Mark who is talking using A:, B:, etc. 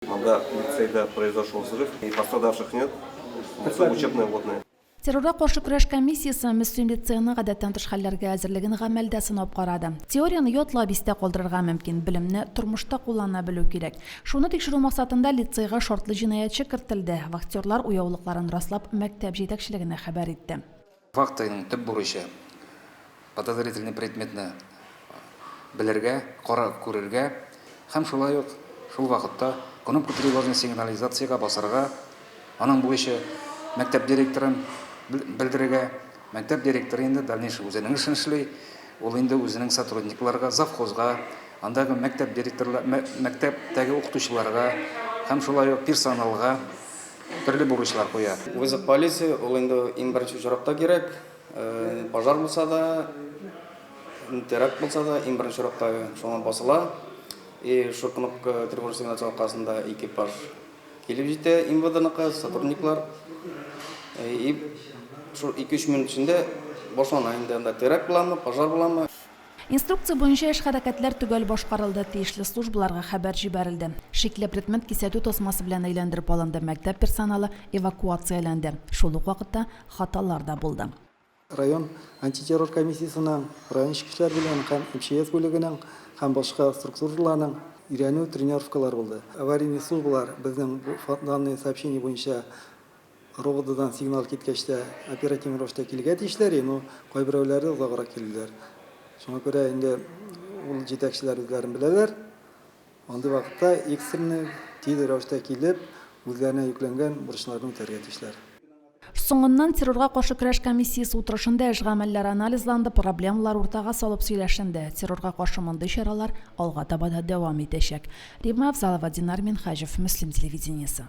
A: Монда лицейда произошел взрыв и пострадавших нет, это учебная водная. Террорга каршы көрәш
B: комиссиясе Мөслим лицееның гадәттән тыш хәлләргә әзерлеген гамәлдә сынап карады. Теорияне ятлап, истә калдырырга мөмкин, белемне тормышта куллана белү кирәк. Шуны тикшерү максатында лицейга шартлы җинаятьче кертелде. Вахтерлар уяулыкларын раслап, мәктәп җитәкчелегенә хәбәр итте. Фактының төп
C: бурычы, подозрительный предметны белергә, карап күрергә һәм шулай ук шул вакытта кнопка тревожный сигнализациягә басарга, аның бурычы, мәктәп директорын белдерергә, мәктәп директоры инде дальнейший үзенең эшен эшли, ул инде үзенең сотрудникларга, завхозга, андагы мәктәп директорлар, мәктәптәге укытучыларга һәм шулай ук персоналга, Төрле бурычлар куя. Вызов полиции,
D: ул инде иң беренче очракта кирәк. Пожар булса да, теракт булса да, иң беренче очракта шуңа басыла. И шул кнопка тревожный сигнал чалу аркасында экипаж килеп җитә, МВДныкы сотрудниклар. И шул ике-өч минут эчендә башлана инде анда теракт буламы, пожар буламы. Инструкция
B: буенча эш-хәрәкәтләр төгәл башкарылды, тиешле службаларга хәбәр җибәрелде. Шикле предмет кисәтү тасмасы белән әйләндереп алынды, мәктәп персоналы эвакуацияләнде. Шул ук вакытта хаталар да булды. Район
E: антитеррор комиссиясенең, район эчке эшләр бүлегенең һәм МЧС бүлегенең һәм башка структураларның өйрәнү тренировкалары булды. Аварийный службалар безнең данные сообщения буенча, РОВДдан сигнал киткәч тә, оперативный рәвештә килергә тиешләр иде, но кайберәүләре озаграк килделәр. Шуңа күрә инде ул җитәкчеләр үзләрен беләләр, андый вакытта экстренный, тиз рәвештә килеп, үзләренә йөкләнгән бурычларны үтәргә тиешләр. Соңыннан
B: террорга каршы көрәш комиссиясе утырышында эш гамәлләре анализланды, проблемалар уртага салып сөйләшенде. Террорга каршы мондый чаралар алга таба да дәвам итәчәк. Римма Авзалова, Динар Минһаҗев, Мөслим телевидениесе.